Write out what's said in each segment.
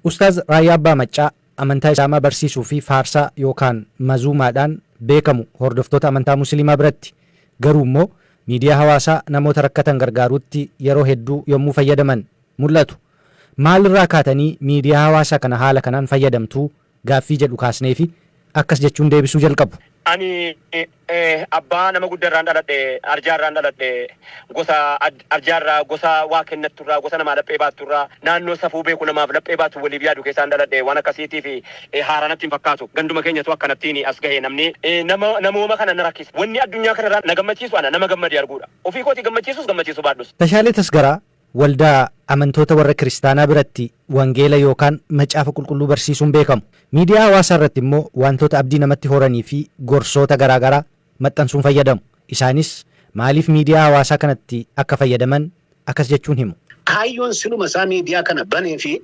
Ustaaz Raayyaa Abbaa Maccaa amantaa Islaamaa barsiisuu fi faarsaa yookaan mazuumaadhaan beekamu hordoftoota amantaa Musiliimaa biratti. Garuu immoo miidiyaa hawaasaa namoota rakkatan gargaaruutti yeroo hedduu yommuu fayyadaman mul'atu. Maal irraa kaatanii miidiyaa hawaasaa kana haala kanaan fayyadamtuu? gaaffii jedhu kaasneefi akkas jechuun deebisuu jalqabu. Ani abbaa nama gudda irraan dhaladhe, arjaa irraan dhaladhe, gosa arjaa irraa, gosa waa kennattu irraa, gosa namaa laphee baattu irraa, naannoo safuu beeku namaaf laphee baatu waliif yaadu keessaan dhaladhe, waan akkasiitiif haaraa natti hin fakkaatu. Ganduma keenyatu akkanattiin as gahe namni nama namooma kana na rakkisa. Wanni addunyaa kana irraa na gammachiisu ana nama gammadee arguudha. Ofii kootii gammachiisus gammachiisuu baadhus. Tashaalee Tasgaraa Waldaa amantoota warra kiristaanaa biratti wangeela yookaan macaafa qulqulluu barsiisuun beekamu. Miidiyaa hawaasaa irratti immoo waantota abdii namatti horanii fi gorsoota garaa garaa maxxansuun fayyadamu. Isaanis maaliif miidiyaa hawaasaa kanatti akka fayyadaman akkas jechuun himu. Kaayyoon siluma isaa miidiyaa kana banee fi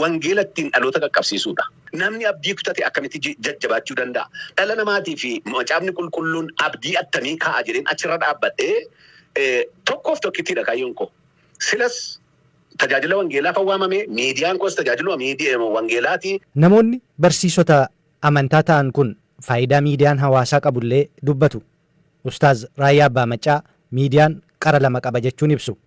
Wangeela ittiin dhaloota qaqqabsiisuu dha. Namni abdii kutate akkamitti jajjabaachuu danda'a? Dhala namaatii fi Macaafni Qulqulluun abdii attamii kaa'a jedheen achi irra dhaabbadhee, Tokkoof tokkittii dha kaayyoon koo. Silas tajaajila wangeelaafan waamame, miidiyaan koos tajaajiluma wangeelaa ti. Namoonni barsiisota amantaa ta'an kun faayidaa miidiyaan hawaasaa qabu illee dubbatu. Ustaaz Raayyaa Abbaa Maccaa miidiyaan qara lama qaba jechuun ibsu.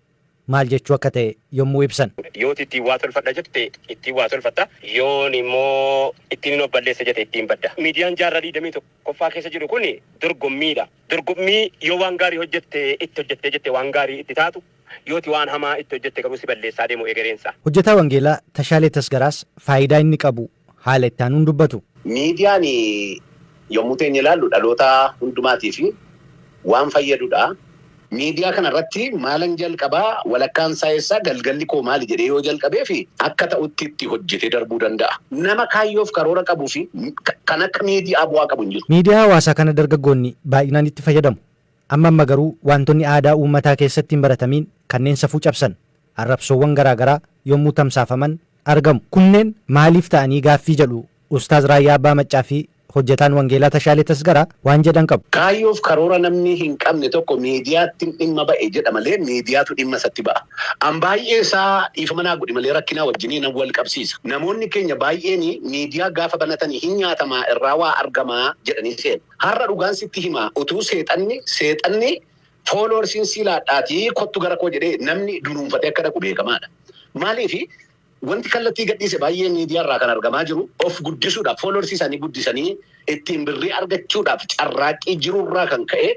maal jechuu akka ta'e yommuu ibsan. Yoo ati ittiin waa tolfadha jette ittiin waa tolfatta. Yoon immoo ittiinin of balleessa jete ittiin badda. Miidiyaan jaarraa 21ffaa keessa jiru kun dorgommiidha. Dorgommii yoo waan gaarii hojjette itti hojjettee jette waan gaarii itti taatu, yoo ati waan hamaa itti hojjette garuu si balleessaa deemu egereensaa. Hojjetaa Wangeelaa Tashaalee Tasgaraas faayidaa inni qabu haala itti aanuun dubbatu. Miidiyaan yommuu teenye ilaallu dhaloota hundumaatiif waan fayyadudha. Miidiyaa kana irratti maalan jalqaba, walakkaan isaa eessa, galgalli koo maali jedhee yoo jalqabeef akka ta'utti itti hojjetee darbuu danda'a. Nama kaayyoof karoora qabuu fi kan akka miidiyaa bu'aa qabu hin jiru. Miidiyaa hawaasaa kana dargaggoonni baay'inaan itti fayyadamu. Amma amma garuu waantonni aadaa uummataa keessatti hin baratamiin kanneen safuu cabsan arrabsoowwan garaa garaa yommuu tamsaafaman argamu. Kunneen maaliif ta'anii gaaffii jedhu Ustaaz Raayyaa Abbaa Maccaa fi Hojjetaan Wangeelaa Tashaalee Tasgaraa waan jedhan qabu. Kaayyoof karoora namni hin qabne tokko miidiyaattin dhimma ba'e jedha malee miidiyaatu dhimma isatti ba'a. An baay'ee isaa dhiifama naa godhi malee rakkinaa wajjinii nan wal qabsiisa. Namoonni keenya baay'eeni miidiyaa gaafa banatani hin nyaatamaa irraa waa argamaa jedhanii seenu. Har'a dhugaan sitti himaa utuu seexanni seexanni Fooloorsiin sii laadhaatii kottu gara koo jedhee namni dunuunfatee akka dhaqu beekamaadha. Maaliif wanti kallattii gadhiise baay'ee miidiyaa irraa kan argamaa jiru of guddisuudhaaf fooloorsii isaanii guddisanii ittiin birrii argachuudhaaf carraaqqii jirurraa kan ka'e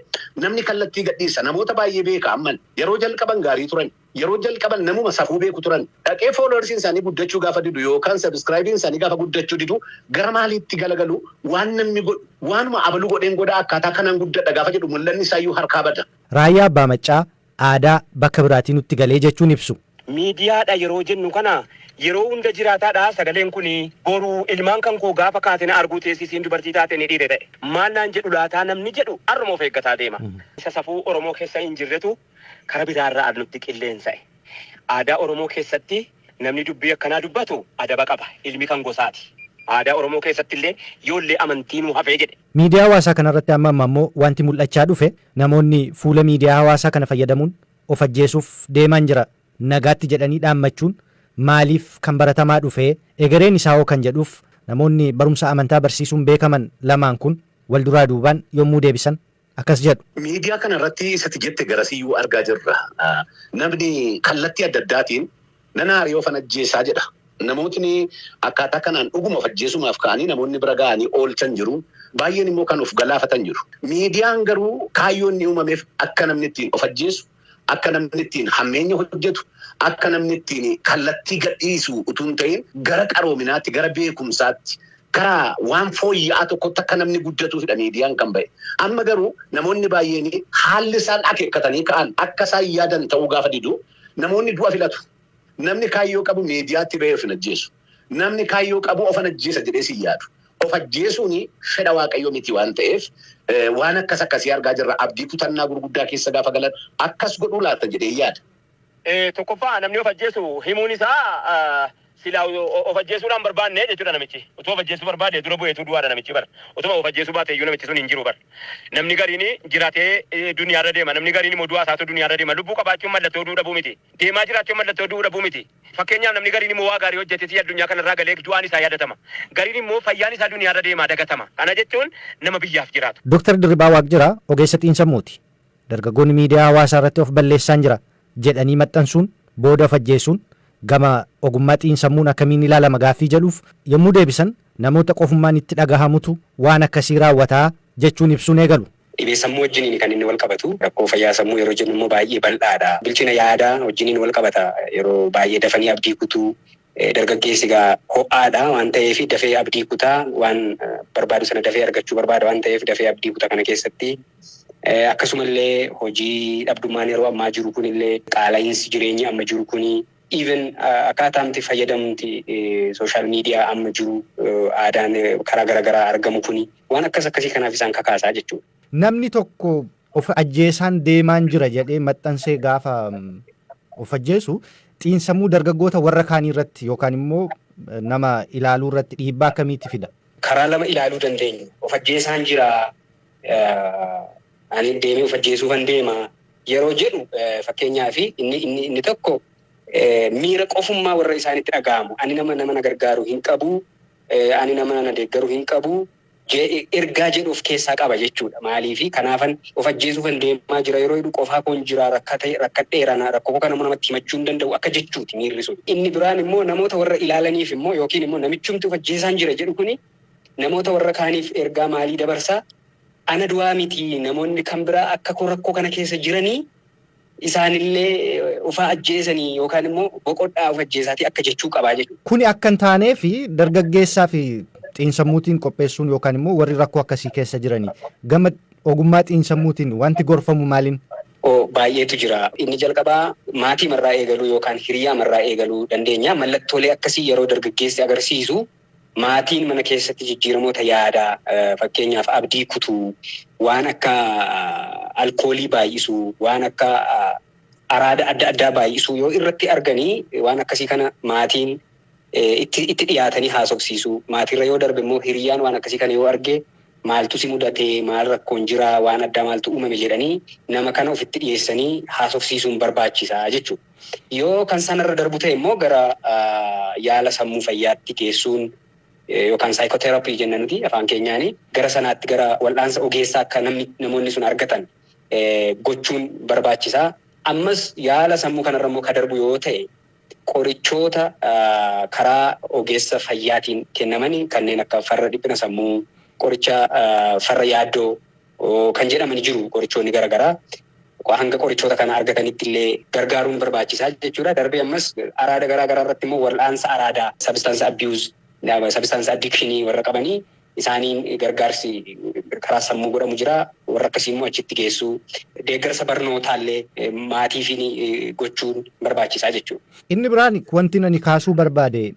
namni kallattii gadhiisa. Namoota baay'ee beeka amman yeroo jalqaban gaarii turani. Yeroo jalqaba namuma safuu beeku turan. Dhaqee followers isaanii guddachuu gaafa didu yookaan subscribe isaanii gaafa guddachuu didu gara maaliitti galagalu? Waan namni godhu, waanuma abalu godheen godha, akkaataa kanaan guddadha gaafa jedhu mul'anni isaayyuu harkaa bada. Raayyaa Abbaa Maccaa aadaa bakka biraatii nutti galee jechuun ibsu. Miidiyaadha yeroo jennu kana yeroo hunda jiraataadha sagaleen kuni? Boru ilmaan kan koo gaafa kaate na arguu teessi isiin dubartii taate inni dhiire ta'e maal naan jedhu laataa namni jedhu har'uma of eeggataa deema. Isa safuu Oromoo keessa hin jirretu Kara biraa irra arnutti qilleensa'e. Aadaa Oromoo keessatti namni dubbii akkanaa dubbatu adaba qaba. Ilmi kan gosaati. Aadaa Oromoo keessatti illee yoo illee amantiinuu hafee jedhe. Miidiyaa hawaasaa kana irratti amma amma ammoo wanti mul'achaa dhufe namoonni fuula miidiyaa hawaasaa kana fayyadamuun of ajjeesuuf deemaan jira nagaatti jedhanii dhaammachuun maaliif kan baratamaa dhufe? Egereen isaa hoo kan jedhuuf namoonni barumsa amantaa barsiisuun beekaman lamaan kun wal duraa duubaan yommuu deebisan akkas jedhu. Miidiyaa kana irratti isa ati jette garasiiyyuu argaa jirra. Namni kallattii adda addaatiin nan aare ofan ajjeesa jedha. Namootni akkaataa kanaan dhuguma of ajjeesumaaf ka'anii namoonni bira ga'anii oolchan jiru. Baay'een immoo kan of galaafatan jiru. Miidiyaan garuu kaayyoo inni uumameef akka namni ittiin of ajjeesu, Akka namni ittiin hammeenya hojjetu, akka namni ittiin kallattii gadhiisu utuu hin ta'in gara qaroominaatti, gara beekumsaatti, gara waan fooyya'aa tokkotti akka namni guddatuufidha miidiyaan kan ba'e. Amma garuu namoonni baay'een haalli isaan akeekkatanii ka'an akka isaan yaadan ta'uu gaafa didu namoonni du'a filatu. Namni kaayyoo qabu miidiyaatti ba'ee of hin ajjeesu. Namni kaayyoo qabu ofan ajjeesa jedhee sin yaadu. Of ajjeesuun fedha Waaqayyoo miti waan ta'eef waan akkas akkasii argaa jirra. Abdii kutannaa gurguddaa keessa gaafa galan akkas godhuu laata jedheen yaada. Tokkoffaa namni of ajjeesu himuun isaa silaa of ajjeesuudhaa hin barbaanne jechuudha namichi. Utuu of ajjeesuu barbaade dura bu'eetuu du'aadha namichi bar. Utuma of ajjeesuu baateeyyuu namichi sun hin jiru bar. Namni gariin jiraatee duniyaarra deema. Namni gariin immoo du'aa isaatu duniyaarra deema. Lubbuu qabaachuun mallattoo du'uu dhabuu miti. Deemaa jiraachuun mallattoo du'uu dhabuu miti. Fakkeenyaaf namni gariin immoo waa gaarii hojjatee si'a addunyaa kanarraa galee du'aan isaa yaadatama. Gariin immoo fayyaan isaa duniyaarra deemaa dagatama. Kana jechuun nama biyyaaf jiraatu. Doktar Dirribaa Waaqjiraa ogeessa xiinsammuuti. Dargaggoonni miidiyaa hawaasaa irratti of balleessaan jira jedhanii maxxansuun booda of ajjeesuun gama ogummaa xiinsammuun akkamiin ilaalama gaaffii jedhuuf yommuu deebisan namoota qofummaan itti dhagahamutu waan akkasii raawwata jechuun ibsuun eegalu. Dhibee sammuu wajjiniin kan inni walqabatu. Rakkoo fayyaa sammuu yeroo jennu immoo baay'ee bal'aadha. Bilchina yaadaa wajjiniin walqabata. Yeroo baay'ee dafanii abdii kutuu. Dargaggeessi egaa ho'aadha waan ta'eef dafee abdii kuta. Waan barbaadu sana dafee argachuu barbaada waan ta'eef dafee abdii kuta kana keessatti. Akkasumallee hojii dhabdummaan yeroo ammaa jiru kunillee qaala'iinsi jireenyi amma jiru kuni. Even akkaataamti fayyadamti social media amma jiru aadaan karaa gara garaa argamu kuni waan akkas akkasii kanaaf isaan kakaasaa jechuudha. Namni tokko of ajjeesaan deemaan jira jedhee maxxansee gaafa of ajjeesu xiinsammuu dargaggoota warra kaanii irratti yookaan immoo nama ilaaluu irratti dhiibbaa akkamiitti fida? Karaa lama ilaaluu dandeenyu. Of ajjeesaan jira Ani deemee of ajjeesuufan deema yeroo jedhu fakkeenyaaf inni inni inni tokko miira qofummaa warra isaanitti dhaga'amu ani nama nama na gargaaru hin qabu ani nama na deeggaru hin qabu ergaa jedhu of keessaa qaba jechuudha. Maaliif kanaafan of ajjeesuufan deemaa jira yeroo jedhu qofaa koon jira rakkate rakkadheera rakkoo kana immoo namatti himachuu hin danda'u akka jechuuti miirri sun. Inni biraan immoo namoota warra ilaalaniif immoo yookiin immoo namichumti of ajjeesaan jira jedhu kuni Namoota warra kaaniif ergaa maalii dabarsa? Ana duwaa miti, namoonni kan biraa akka koo rakkoo kana keessa jiranii, isaanillee ufa ajjeesanii yookaan immoo boqodhaa of ajjeesaatii akka jechuu qaba jechuudha. Kuni akka hin taaneef dargaggeessaa fi xiinsammuutiin qopheessuun yookaan immoo warri rakkoo akkasii keessa jiranii gama ogummaa xiinsammuutiin wanti gorfamu maalin? o Baay'eetu jira. Inni jalqabaa maatiima irraa eegaluu yookaan hiriyyaama irraa eegaluu dandeenya. Mallattoolee akkasii yeroo dargaggeessi agarsiisu Maatiin mana keessatti jijjiiramoota yaadaa, fakkeenyaaf abdii kutuu, waan akka alkoolii baay'isuu, waan akka araada adda addaa baay'isuu yoo irratti argani waan akkasii kana maatiin itti itti dhiyaatanii haasofsiisuu. Maatiirra yoo darbe immoo hiriyyaan waan akkasii kana yoo arge maaltu si mudate, maal rakkoon jira, waan addaa maaltu uumame jedhanii nama kana ofitti dhiyeessanii haasofsiisuun barbaachisa jechuudha. Yoo kan sana irra darbu ta'e immoo gara yaala sammuu fayyaatti geessuun yookaan psychotherapy jenna nuti afaan keenyaani gara sanaatti gara wal'aansa ogeessaa akka namni namoonni sun argatan gochuun barbaachisa. Ammas yaala sammuu kanarra immoo ka darbu yoo ta'e qorichoota karaa ogeessa fayyaatiin kennaman kanneen akka farra dhiphina sammuu, qoricha farra yaaddoo kan jedhamani jiru qorichoonni gara garaa. Hanga qorichoota kana argatanitti illee gargaaruun barbaachisaa jechuudha. Darbee ammas araada garaa garaa irratti immoo wal'aansa araadaa, substance abuse, substance addiction warra qabanii isaaniin gargaarsi karaa sammuu godhamu jira. Warra akkasii immoo achitti geessuu. Deeggarsa barnootaa illee maatiifiin gochuun barbaachisaa jechuudha. Inni biraan wantin ani kaasuu barbaade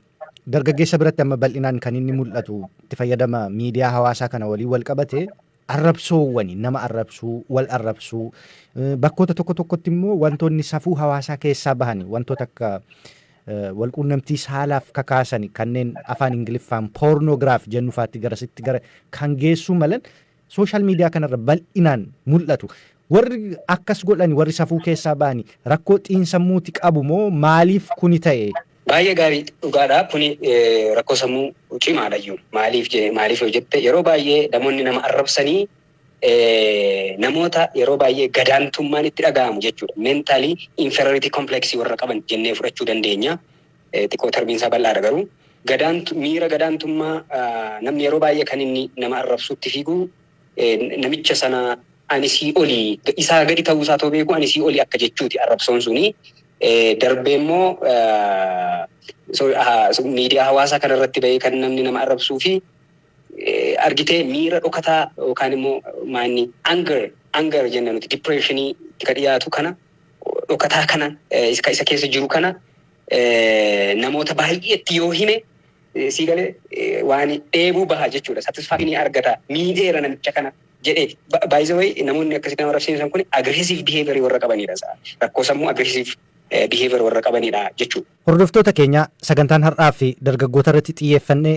Dargaggeessa biratti amma bal'inaan kan inni mul'atu itti fayyadama miidiyaa hawaasaa kana waliin wal qabate arrabsoowwani nama arrabsuu, wal arrabsuu bakkoota tokko tokkotti immoo wantoonni safuu hawaasaa keessaa bahani wantoota akka wal quunnamtii saalaaf kakaasani kanneen afaan Ingiliffaan pornograph jennu faatti garasitti gara kan geessuu malan social media kanarra bal'inaan mul'atu. Warri akkas godhani warri safuu keessaa ba'ani rakkoo xiinsammuuti qabu moo maaliif kuni ta'e? Baay'ee gaarii dhugaadha kuni rakkoo sammuu cimaadhayyu. Maaliif jee maaliif yoo jette yeroo baay'ee namoonni nama arrabsanii namoota yeroo baay'ee gadaantummaan itti dhaga'amu jechuudha. Mentally inferiority complex warra qaban jennee fudhachuu dandeenya. xiqqoo tarbiinsaa bal'aadha garuu. Gadaan miira gadaantummaa namni yeroo baay'ee kan inni nama arrabsu itti fiigu namicha sana ani sii oli isaa gadi ta'uu isaa otoo beekuu ani sii oli akka jechuuti arrabsoon suni darbee immoo miidiyaa hawaasaa kana irratti ba'ee kan namni nama arrabsuu fi argitee miira dhokataa yookaan immoo maanni anger anger jenna nuti depression itti ka dhiyaatu kana dhokataa kana eh, isa isa keessa jiru kana eh, namoota baay'eetti yoo hime eh, sii galee eh, waan dheebuu baha jechuudha satisfaction argata miidheera namicha kana jedheeti Ba- by the way namoonni akkasitti nama rabsiisan kun aggressive behavior warra qabanidha sa- rakkoo sammuu aggressive eh, behavior warra qabanidha jechuudha. Hordoftoota keenya sagantaan har'aa fi dargaggoota irratti xiyyeeffannee